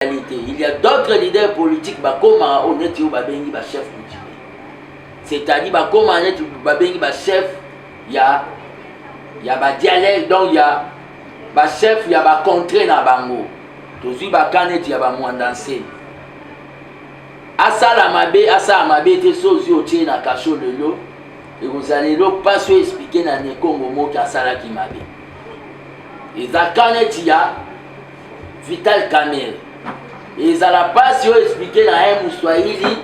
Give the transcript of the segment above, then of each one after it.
ezali te il y a d'autres leaders politiques bakomaka oyo neti oyo babengi bachef coutumier c'est-à-dire bakomaka neti babengi bachef ya ya badialecte donc ya bachef ya bacontre na bango tozwi baka neti ya bamwanda nseni asala mabe asala mabe te so ozwi otie na kasho lelo ekozala lelo mpasi oyo esplike na nekongo moki asalaki mabe eza ka neti ya Vital Kamerhe. Ezala pasi oyo expliquer na un Muswahili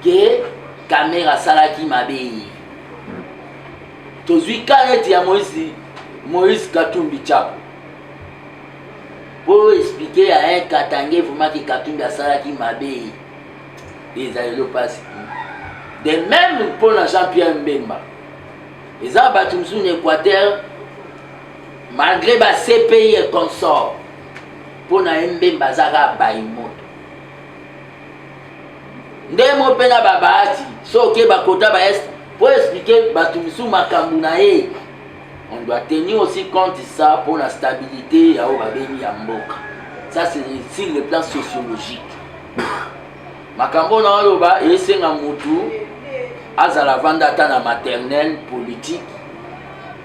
que Kamerhe asalaki mabe ye. Tozwi ka neti ya Moïse Moïse Katumbi Chapo. Po expliquer ya un Katange vraiment que Katumbi asalaki mabe ye. Ezala elo pasi. De même mpo na Jean-Pierre Mbemba. Eza bato mosusu na Equateur malgre ba cpi et consort mpo na ye mbemba aza kaka bayi moto nde mo mpe na babahati soki bakota ba est mpo explike bato mosusu makambo na ye on doit tenir aussi compte ça mpo na stabilité ya oyo babengi ya mboka ça c'est sur le plan sociologique makambo na oloba esenga motu azala vanda ata na maternelle politique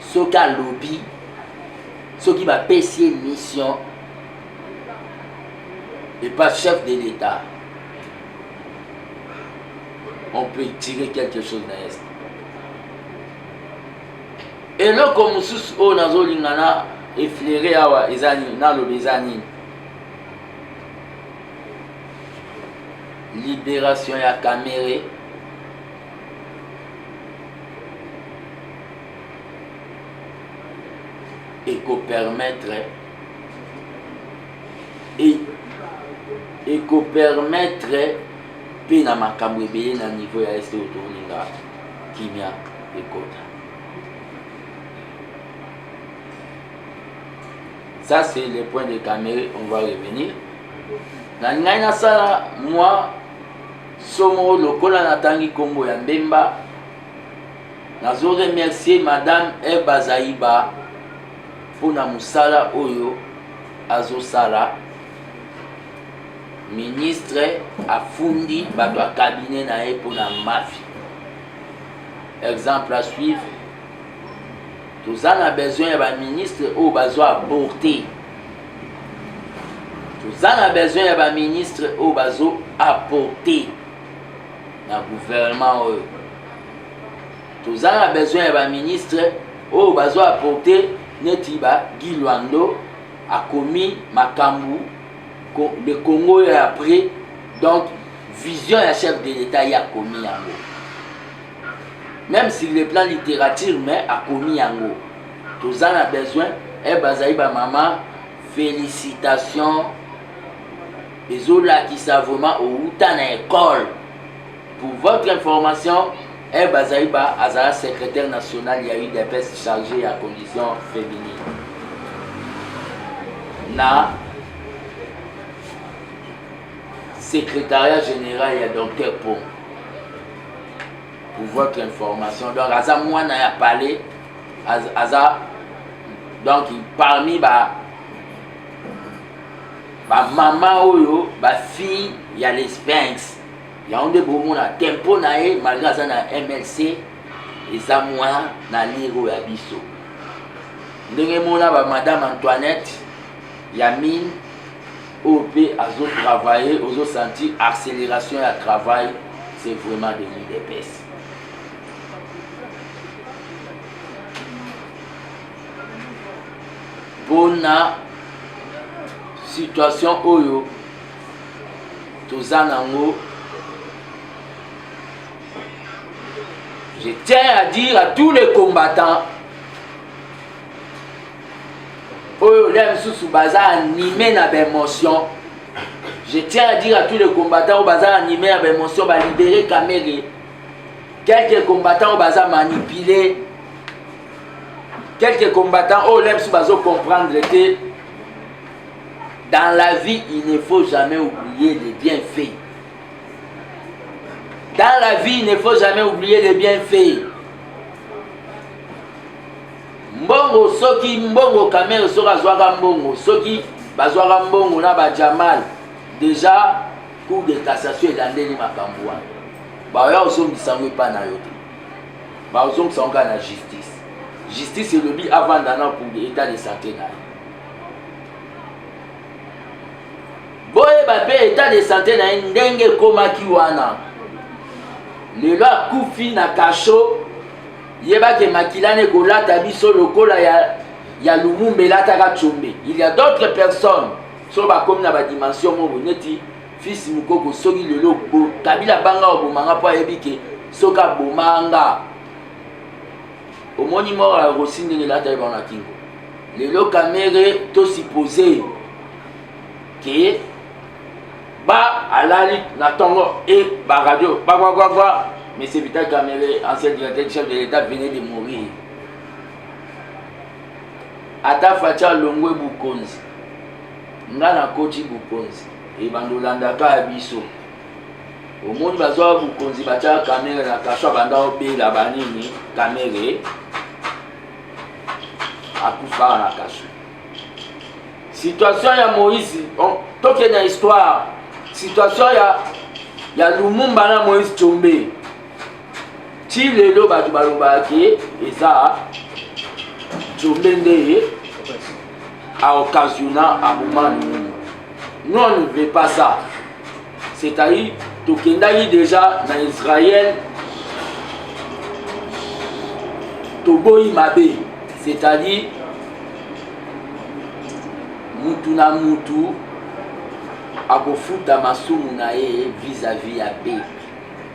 soki alobi soki bapesi ye mission epa chef de l'état on peut tirer quelque chose na est eloko mosusu oyo nazolinga na eflere awa eza nini naloba eza nini libération ya kamere ekopermettre ekopermettre mpe na makambo ebele na niveau ya este oyo tolinga kimia ekota ça c'est le point de camere on va revenir na ngai nasala mwa Somo lokola natangi kombo ya Mbemba. Nazo remercier madame Eva Zayiba mpo na mosala oyo azosala ministre afundi bato ya cabinet na ye mpona mafi exemple à suivre toza na besoin ya baministre oyo bazo aborte toza na besoin ya baministre oyo bazo apporte na gouvernement oyo toza na besoin ya baministre oyo bazo apporte neti ba guy lwando akomi makambo le congo ya après donc vision ya chef de l'état ye akomi yango même sur le plan littérature mais akomi yango toza na besoin eh, bazali bamama félicitation ezolakisa vraiment outa na école pour votre information eh, bazali ba azala secrétaire national ya udps chargé ya condition féminine na secrétariat général ya docteur po pour votre information donc aza mwana ya palais aza donc parmi ba bamama oyo bafille ya les banks yango nde bomona tempo na ye malgre aza na mlc eza mwa na lire oyo ya biso ndenge mona ba madame antoinette ya mine oyo mpe azotravaille ozosentir accélération ya travail c'est vraiment de l'udps mpo na situation oyo toza nango je tiens à dire à tous les combattants oyo lia misusu baza anime na baémotion je tiens à dire à tous les combattants oyo baza anime na baémotion balibere kamere quelques combattants oyo baza manipule quelques combattants oyo lemsu bazo comprendre te dans la vie il ne faut jamais oublier les bienfaits dans la vie il ne faut jamais oublier les bienfaits mbongo soki mbongo kamere soki azwaka mbongo soki bazwaka mbongo na bajamal déjà Cour de cassation elandeli makambo wana, baoya ozongisa yango epai na yo te, baozongisa yango kaka na justice. Justice elobi avanda na pour etat de santé na ye. Boyeba mpe etat de santé na ye ndenge ekomaki wana, lelo akufi na kasho, yebaki makila na ekolata biso lokola ya, ya Lumumba elataka tshombe. Il y a d'autres personnes so bakomi na badimension moko neti fils mukoko soki lelo kabila banga obomanga mpo ayebi ke soki abomanga omoni moko ya rosi ndenge elataki bango na kingo lelo kamere to suppose ke ba alali na tongo e baradio bakwakwakwak Monsieur Vital Kamere, ancien directeur chef de l'État, venait de mourir. ata faci alongwe bokonzi nga nakoti bokonzi ebanda olandaka ya biso omoni bazwaka bokonzi batyaka kamere na kaso abanda obela banini kamere akufaka na kaso situation ya moïse toke na histoire situation ya ya lumumba na moïse combe ti lelo bato balobaka ke eza jombe nde ye aoccasiona aboma nini nous on ne veut pas ça c'est-à-dire tokendaki déjà na israel toboyi mabe c'est-à-dire mutu na mutu akofuta masumu na ye vis-à-vis ya peuple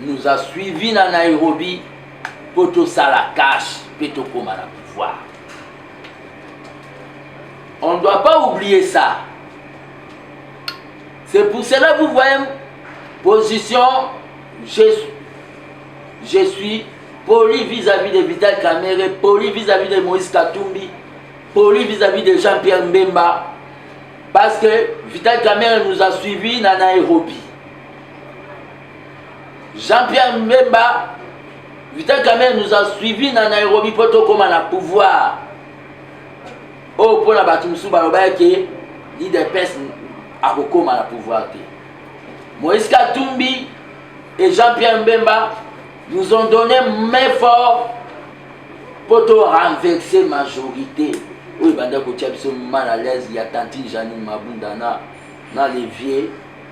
nous a suivi na Nairobi mpo tosala cash mpe tokoma na pouvoir on ne doit pas oublier ça c'est pour cela vous voyez position je, je suis poli vis-à-vis de Vital Kamere, poli vis-à-vis de Moïse Katumbi, poli vis-à-vis de Jean-Pierre Mbemba, parce que Vital Kamere nous a suivis dans Nairobi. Jean-Pierre Mbemba, Vital Kamerhe nous a suivi na Nairobi mpo tokoma na pouvoir oyo oh, mpo na bato mosusu balobaki ke idps akokoma na pouvoir te moïse katumbi et jean-pierre mbemba nous ont donné main fort mpo to renverse majorité oyo ebanda kotya biso mal à l'aise ya tantine janine mabunda na na levier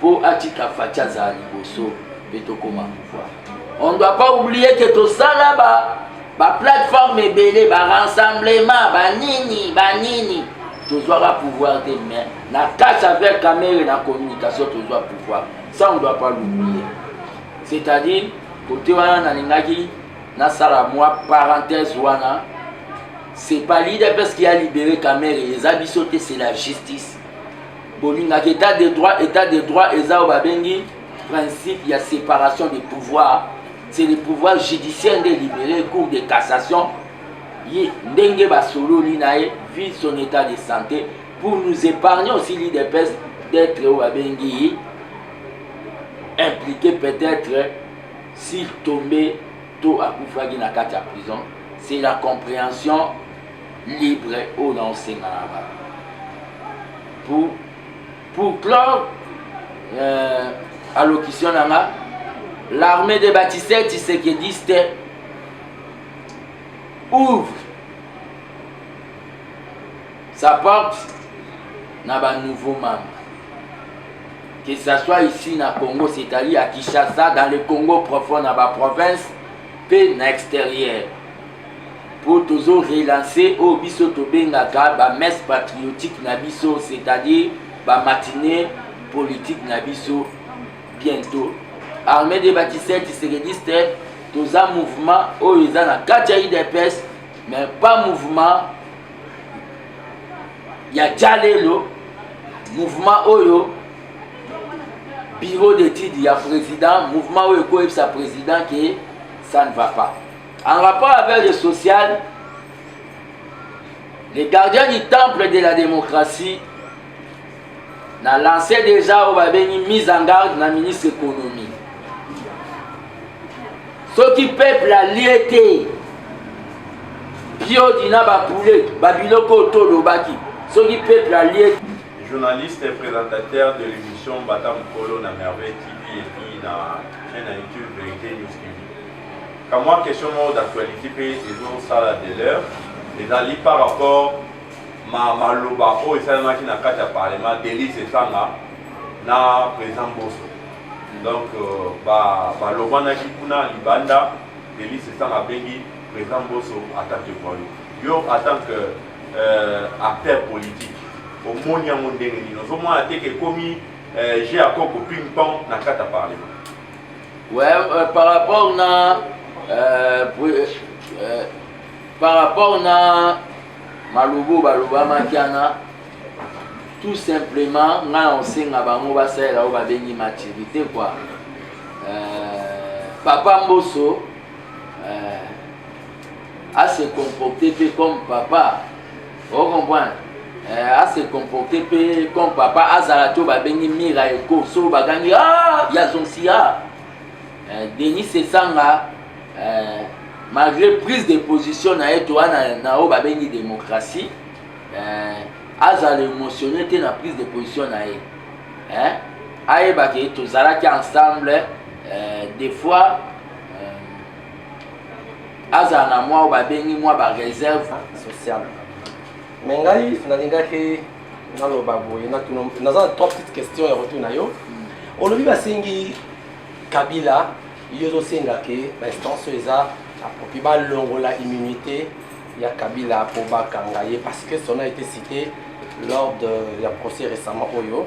po atika faci azala liboso mpe tokoma pouvoir on doit pas oublier ke tosala ba baplateforme ebele barassemblement banini banini tozwaka pouvoir te mais na kati avec camere na communication tozwa pouvoir ça on doit pas l'oublier c'est-à-dire kote wana nalingaki nasala mwa parenthèse wana c'est pas l'idps qui a libéré camere eza biso te c'est la justice bolingaka etat de droit etat de droit eza oyo babengi principe ya séparation de pouvoir c'est le pouvoir judiciaire nde libéré cour de cassation ye ndenge basololi na ye vue son état de santé pour nous épargner aussi l'idps d'être oyo babengi ye impliqué peut-être s'il tombait to akufaki na kati ya prison c'est la compréhension libre oyo na osenga na ba pour pour clore euh, allocution na nga l'armée des bâtisseurs tisekediste ouvre sa porte na ba nouveaux membres que ça soit ici na Congo c'est-à-dire à Kinshasa dans le Congo profond na ba province mpe na extérieur mpo tozo relance oyo biso tobengaka ba messe patriotique na biso c'est-à-dire ba matinee politique na biso bientôt armée de batisel tisekediste toza mouvement oyo eza na kati ya idps mais pas mouvement ya jalelo mouvement oyo bureau d'étude ya président mouvement oyo ekoyebisa président ke ça ne va pas En rapport avec le social, les gardiens du temple de la démocratie na lancé déjà oyo babengi mise en garde na ministre économie soki peuple alie te piodi na bapoulet babiloko oyo tolobaki soki peuple alie journaliste et présentateur de l'émission Bata Mukolo na Merveille TV et puis na chaîne YouTube Vérité News TV. Kamwa question moko d'actualité pe ezo sala de l'heure ezali par rapport ma maloba oyo esalemaki na kati ya parlement Denis Esanga na président Boso donc euh, ba balobanaki kuna libanda Denis Esanga abengi président Boso attaque de voyou yo en tant que euh, acteur politique omoni yango ndenge nini ozomona te ke ekomi euh, jeu ya koko ping pong na kati ya parlement Ouais, euh, par rapport na euh, euh, euh, par rapport na malobo balobamaki wana tout simplement ngai na kosenga bango basalela oyo babengi maturité kua euh, papa mboso euh, ase comporte mpe comme papa o comprendre euh, a se comporter mpe comme papa azala to babengi mira eko so bagangi ah, ya zonsi a euh, denis esanga euh, malgré prise de position na ye toa na oyo babengi démocratie azala émotionne te na prise de position na ye ayebaki tozalaki ensemble des fois azala na mwa oyo babengi mwa bareserve sociale me ngai nalingaki naloba boye naza na trois petite question ya retour na yo hmm. olobi basengi kabila yo ozosenga ke bainstance oyo eza akoki balongola immunité ya kabila mpo bakanga ye parce que son a été cité lors de ya procès récemment oyo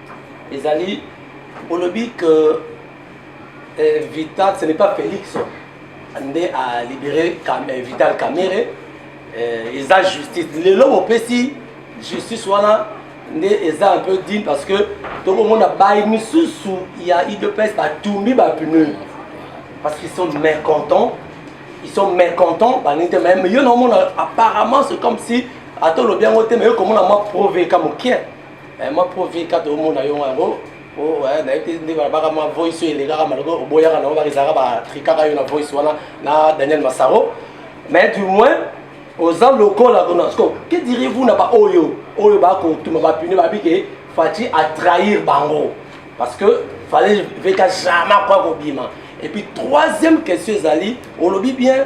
ezali olobi que eh, vital ce n'est pas félix nde a libéré Kam, eh, vital kamere eh, eza justice lelo bopesi justice wana nde eza un peu digne parce que tokomona bayi misusu ya idps batumbi bapneu parce qu'ils sont mécontents ils sont mécontents balingi te mais yo naomona apparemment c'est comme si ata olobi yango te mais yo komona mwa proveka mokie Eh, mwa pro vie kati omona yo yango oh, eh, nayebi te nde balabaka mwa voice oyo elekaka maloko oboyaka nango kaka ezalaka batrikaka yo na voice wana na daniel masaro mais du moins oza lokola kuna siko que direz-vous na baoyo oyo bakotuma bapine babi ke faci atrahir bango parce que fallait veka jamais kwa kobima et puis troisième question ezali olobi bien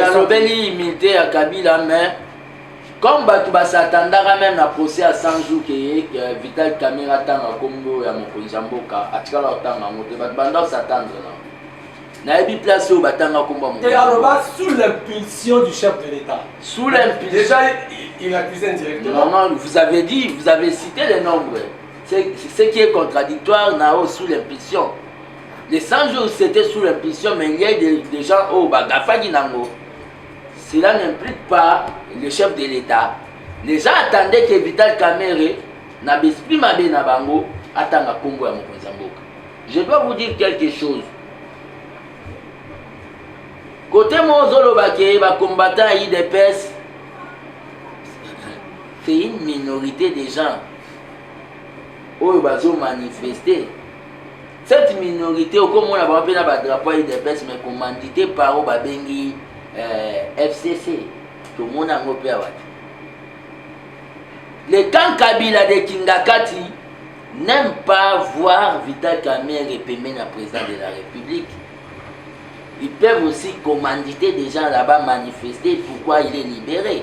nalobeli humilité ya kabila mais comme bato basatandaka meme na procès ya 100 jour keye vital camera atanga kombo ya mokonzi ya mboka atikala kotanga yango te bato banda kosatandre na nayebi place oyo batanga kombo ya aloba sous l'impulsion du chef de l'état sous l'impulsion il accusait directement non non vous avez dit vous avez cité les nombres ce qui est contradictoire nao sous l'impulsion Les 100 jours, c'était sous l'impulsion, mais il y a des, des gens, oh, bah, Gafagi Nango. Cela n'implique pas le chef de l'État. Les gens attendaient que Vital Kamere, na l'esprit mabe na bango, atanga Congo ya mokonzi ya mboka. Je dois vous dire quelque chose. Côté Mozolo Baké, ba combattant à IDPS, c'est une minorité des gens. Oyo bazo manifester. cette minorité okomona bango mpe na badrapo ya udps mais commandité par oyo babengi euh, fcc tomona yango mpe awa te le camp kabila de kingakati n'aime pas voir vital kamere pembeni ya président de la république ils peuvent aussi commanditer des gens là-bas manifester pourquoi il est libéré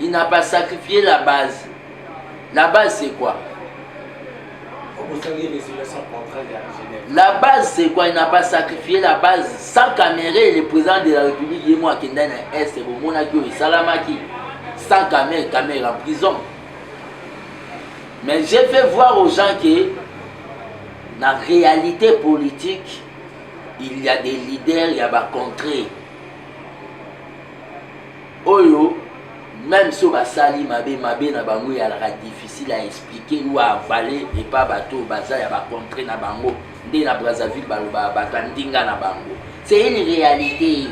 il n'a pas sacrifié la base la base c'est quoi la base c'est quoi il n'a pas sacrifié la base sans Kamerhe le président de la république ye mo akendai na est bomonaki oyo esalamaki sans Kamerhe Kamerhe en prison mais j'ai fait voir aux gens que na réalité politique il y a des leaders ya bacontré oyo même so basali mabe mabe na bango eyalaka difficile à expliquer ou à avaler epa bato oyo baza ya bacontre na bango nde na brazzaville balobaka bato ya ndinga na bango c'est une réalité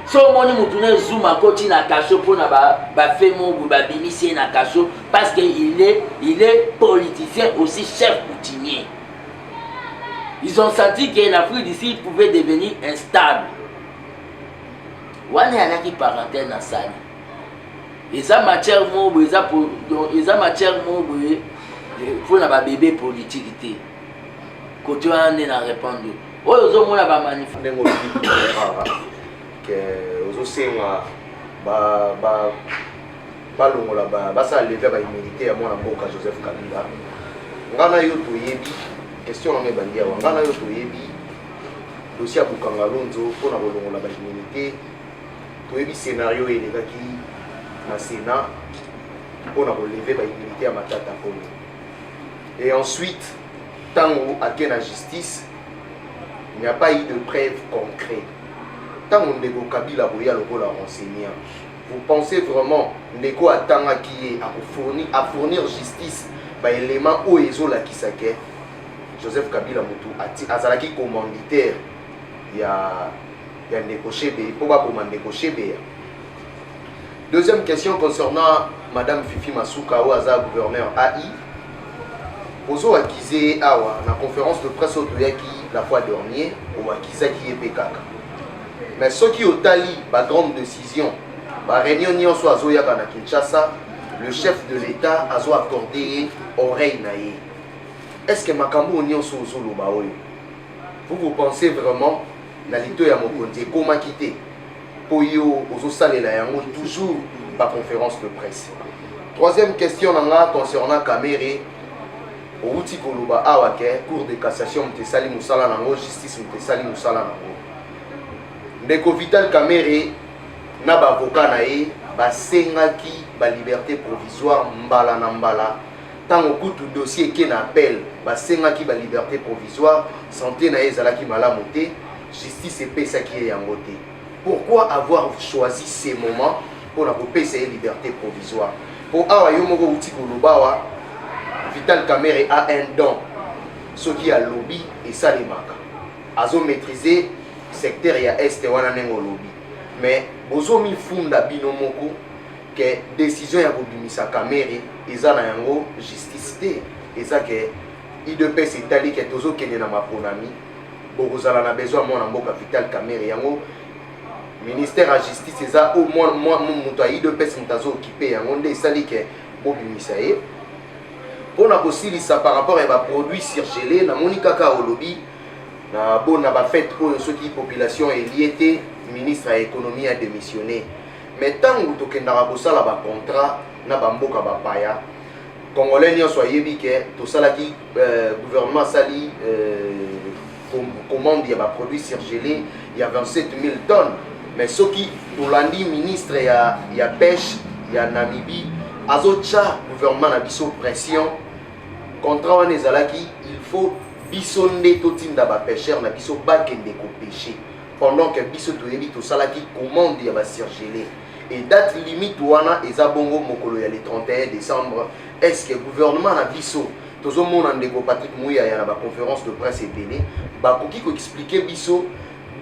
so omoni motu na ezuma akoti na kaso mpo na bafe mobu babimisi ye na kaso parce que il est, il est politicien aussi chef coutumier ils ont senti que l'afrique d'ici pouvait devenir instable wana yanaki parentel na sali eza matière moko boye eza eza matière moko boye eh, mpo na babebe politike te kote wana nde na répondre oyo ozomona bamanif ndenge olobi ke ozosenga ba balongola ba basala levia ba immunité ya mwana mboka Joseph Kabila nga na yo toyebi question na ngai ebandi awa nga na yo toyebi dossier ya Bukanga Lonzo mpo na kolongola ba immunité toyebi scenario elekaki na Sénat mpo na koleve ba immunité ya Matata Polo et ensuite ntango ake na justice il n'y a pas eu de preuve concrète ntango ndeko Kabila boya lokola renseigner Vous pensez vraiment ndeko oyo atangaki ye ako fournir a fournir justice ba element oyo ezo lakisa ke Joseph Kabila mutu ati azalaki commanditaire ya ya ndeko Shebe po ba boma ndeko Shebe ya Deuxième question concernant Madame Fifi Masuka oyo aza gouverneur AI. Ozo akize ye awa na conférence de presse oyo toyaki la fois dernier, oakizaki ye mpe kaka. Mais soki otali ba grandes decisions, ba réunions nionso azoyaka na Kinshasa, le chef de l'État azo accorder ye oreille na ye. Est-ce que makambo oyo nionso ozoloba oyo, vous vous pensez vraiment na lito ya mokonzi ekomaki te mpo yo ozosalela yango toujours ba conférence de presse? Troisième question na nga concernant Kamerhe, owuti koloba awa ke cour de cassation moto esali mosala na yango, justice moto esali mosala na yango. ndeko vital kamere na baavoka na ye basengaki baliberte provisoire mbala na mbala ntango kutu dossier eke na appel basengaki baliberte provisoire sante na ye ezalaki malamu te justice epesaki ye yango te pourquoi avoir choisi ce moment mpo na kopesa ye liberté provisoire mpo awa yo moko outi koloba awa vital camere a un don soki alobi esalemaka azo maîtriser secteur ya est wana ndenge olobi mais bozo mifunda bino moko ke décision ya kobimisa kamere eza na yango justice te eza ke idps etali ke tozokende na maponami bokozala na besoin ya mwana mboka vital kamere yango ministère ya justice eza oyo moto ya idps moto azookipe yango nde esali ke bobimisa ye mpo na kosilisa par rapport ya baproduit surgele namoni kaka olobi na bon na ba fête oyo soki population elie te ministre ya économie a démissionné mais ntango tokendaka kosala ba contrat na bamboka bapaya congolais nyonso ayebi ke tosalaki euh, gouvernement asali euh, commande ya baproduit surgelé ya 27 000 tonnes mais soki tolandi ministre ya, ya pêche ya namibie azotya gouvernement na biso pression Contrat wana ezalaki il faut biso nde totinda ba pêcheurs na biso bakende ko pêcher pendant que biso toyebi tosalaki commande ya ba surgelés et date limite wana eza bongo mokolo ya le 31 décembre est ce que gouvernement na biso tozomona ndeko patrick muyaya na baconférence de presse ebele bakoki koexplike biso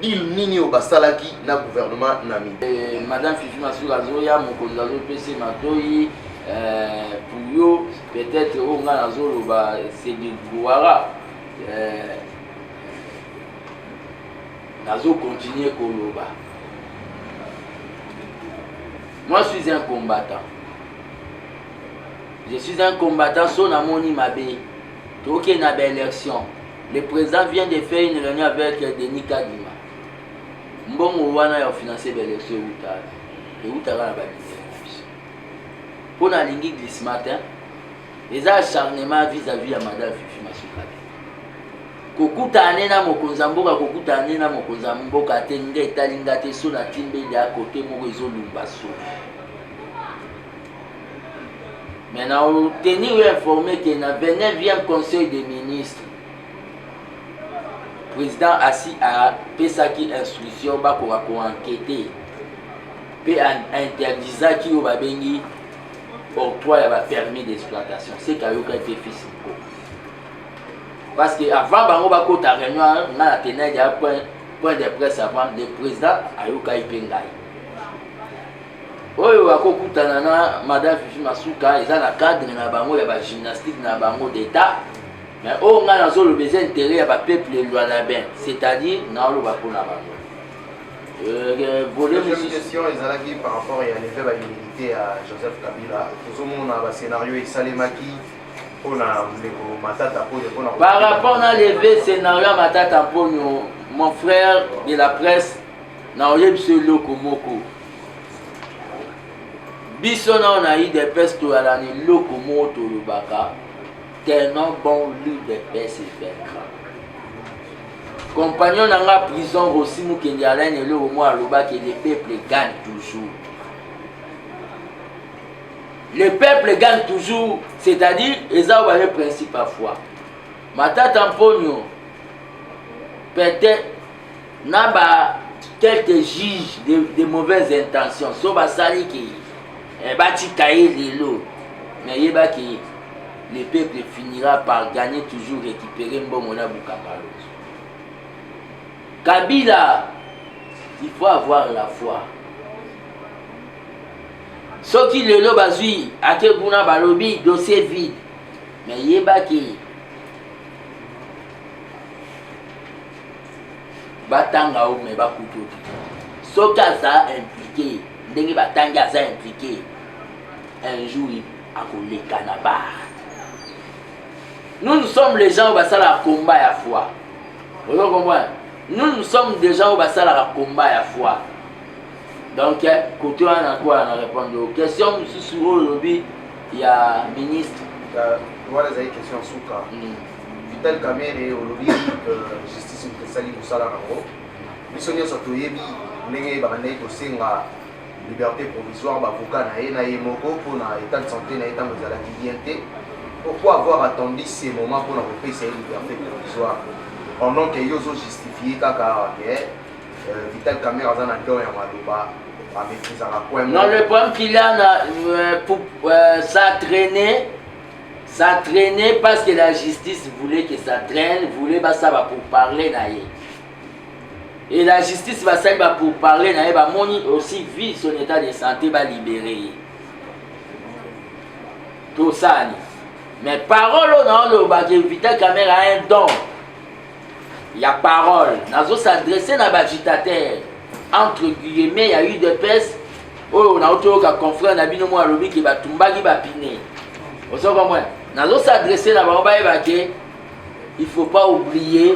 deal nini oyo basalaki na gouvernement na mi eh, madame fifi masuka azoya mokonzi azopesa matoi eh, puyo peut-être oyo ngai nazoloba sedigwara eh, nazocontinue koloba moi je suis un combattant je suis un combattant so namoni mabe tokende na baélection le président vient de faire une réunion avec denis kadima mbongo wana ya kofinanse baélection eutaka eutaka na babizela pona alingi glissement te eza acharnement vis à vis ya madame fifi masuka te kokutana ne na mokonzi ya mboka kokutana ne na mokonzi ya mboka te nga etali nga te so na timbeli ya kote moko ezolumba so mais na oteni yo informe ke na 29e conseil des ministres président asi apesaki instruction bakoka koankete mpe ainterdisaki oyo babengi octroi ya bapermis d'exploitation seke ayokaki te fils moko parce que avant bango bakota réunion nga na tenai ya point point de presse avant le président ayokaki mpe ngai oyo akokutana na madame fifi masuka eza na cadre na bango ya bagymnastique na bango d'état mais oyo ngai nazoloba eza intérêt ya bapeuple lwalabin c'est-à-dire naoloba mpo na bango Euh, euh, deuxième question ezalaki par rapport ya leve ba humilité ya joseph kabila tozomona bascénario esalemaki mpona ndeko matata mponio mpona par rapport na leve scénario ya matata mponio mon frère de la presse na oyebisi yo eloko moko biso nao na udps toyala na eloko moko tolobaka tenant bon l'udps evaincra Compagnon na nga prison Rossi Mukendi Alain eloko mwa alobaki le peuple gagne toujours. Le peuple gagne toujours, c'est-à-dire eza ba le principe à foi. Matata Mponyo peut-être na ba quelques juges de, de mauvaises intentions so basali ke eh, batika ye lelo mais yebaki le peuple finira par gagner toujours récupérer mbongo na bukangalo kabila il faut avoir la foi soki lelo bazwi ake kuna balobi dossier vide me yebaki batanga o me bakuti oki soki aza implike ndenge batangi aza implike un jour akoleka na bar nous nous sommes les gens oyo basalaka combat ya foi ozo comprendre nous nous sommes des gens oyo basalaka combat ya foi donc eh, kote wana po na répondre o question mosusu oyo olobi ya ministre wana ezali question suka hmm. vital kamere olobi que justice moto esali mosala yango biso nyonso toyebi ndenge babandaki kosenga liberte provisoire bavoka na ye na ye moko mpo na etat de santé na ye ntango ezalaki bien te pourquoi avoir attendu ce moment mpona kopesa ye liberté provisoire pendant que yo ozojustifie kaka awa ke euh, vital camere aza na don ya maloba amekizaka coin non le problème qu'il a na euh, pour euh, ça traîner ça traîner parce que la justice voulait que ça traîne voulait basaba pour parler na ye et la justice basali ba pour parler na ye bamoni aussi vie son état de santé balibere ye tosani mais parole oyo naoloba ke vita camere a un don ya parole nazo s'adresse na bagitateur entre guillemets ya udps oyo nauti oyoka confrère na bino moko alobi ke batumbaki bapine ozo comprendre nazo s'adresse na bango bayeba ke il faut pas oublier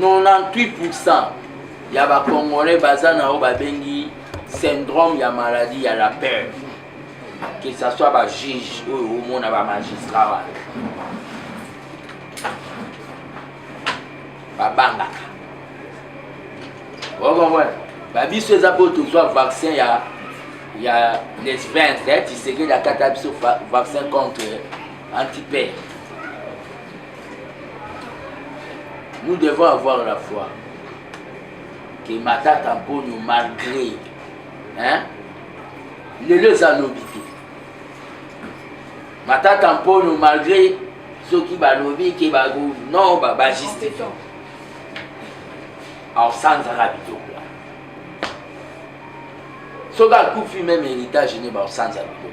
98% ya ba congolais baza na oyo babengi syndrome ya maladie ya la peur que ça soit ba juge oyo omona ba magistrat wana babangaka okomona babiso eza mpo tozwa vaccin ya ya lesbens ya tisekedi akata biso vaccin contre antipere Nous devons avoir la foi que Matata Mponyo, malgré, hein, lelo eza lobi te. Matata Mponyo, malgré soki balobi ke bago non ba ba justifie. Alors ça nous a bidon là. Soki akufi même héritage ne ba sanza bidon.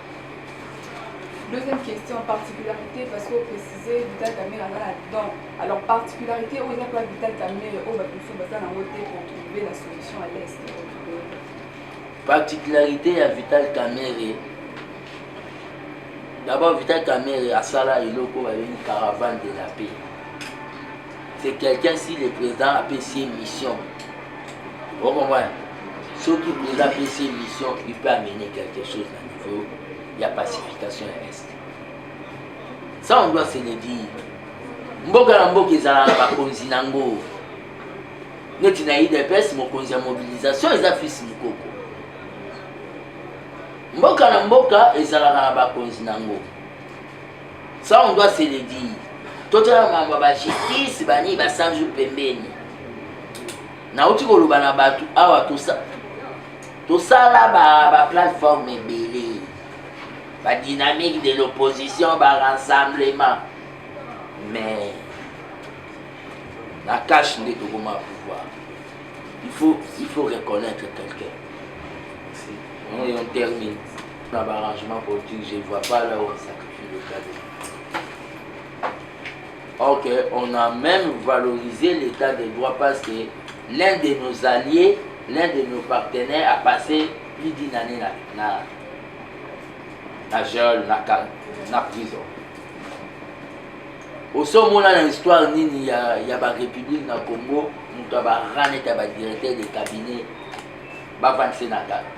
Deuxième question, particularité, parce que vous précisez Vital Kamere aza na don. Alors, particularité oyo eza mpe Vital Kamere oyo bato mosusu baza na yango te pour trouver la solution à l'est. Particularité ya Vital Kamere d'abord Vital Kamere asala eloko babengi caravane de la paix. c'est quelqu'un si le président apesi ye mission okomona soki président apesi ye mission il peut amener quelque chose na niveau ya pacification ya est ça on doit se le dire mboka na mboka ezala na bakonzi na yango neti na idps mokonzi ya mobilisation eza fils mokoko mboka na mboka ezalaka na bakonzi na yango Ça on doit se le dire. Totala mambo ya ba justice bani ba 100 jours pembeni. Nauti koloba na bato awa tosa tosala ba ba plateforme ebele ba dynamique de l'opposition ba rassemblement mais na cache nde tokoma pouvoir il faut il faut reconnaître quelqu'un on termine Na ba arrangement politique, je vois pas là où on sacrifie le cadet. Or que on a même valorisé l'état de droit parce que l'un de nos alliés, l'un de nos partenaires a passé plus d'une année na, na, na gel, na, cal- na prison. osomona na histoire nini ya, ya barépublique na congo moto ya barane ta badirecteur de cabinet bavandise na kaka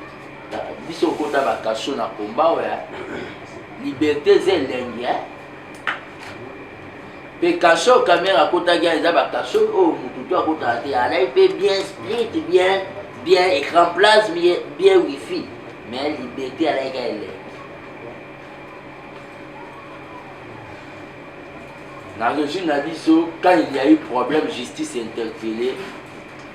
biso okota bakasho na komba oya liberté eza elengi mpe kasho kamere akotaki eza bakasho oyo oh, motu to akotaka te alai mpe bien sprit bien bien écran place bien wifi mais liberté alaika elengi na régime na biso quand il y a eu problème justice interpellée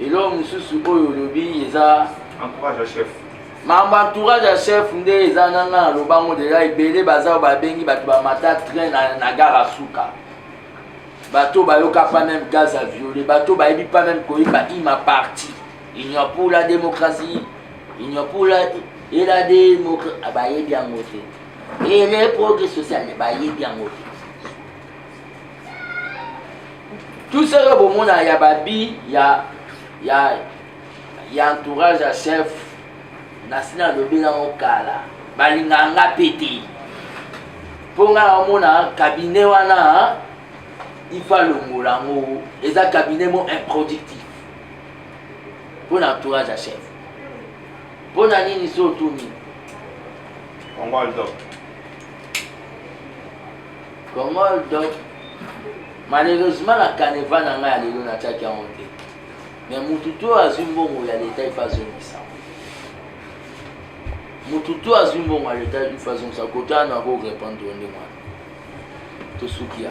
eloko mosusu oyo olobi eza entourage ya chef mambo entourage ya chef nde eza nga nga na lobango deja ebele baza oyo babengi bato bamata train na, na gara suka bato bayoka pa meme gaz a viole bato bayebi pa meme koyeba ima parti union pour la démocratie union pour la et la démocratie ah, bayebi yango te et les progrès social bayebi yango te tout ça yo bomona ya babi ya ya ya entourage ya chef nasi nalobi nango kala balinga nga mpe te mpo nga naomona kabine wana ifa longola yango eza kabine mo improductif mpo na entourage ya chef mpo na nini so otuni Comment donc malheureusement na caneva na ngai ya lelo natyaki yango te me motu to azwi mbongo ya leta ifa azongisa motu to azwi mbongo ya leta ifa azongisa kote wana ako répondre yo ndenge wana tosuki ya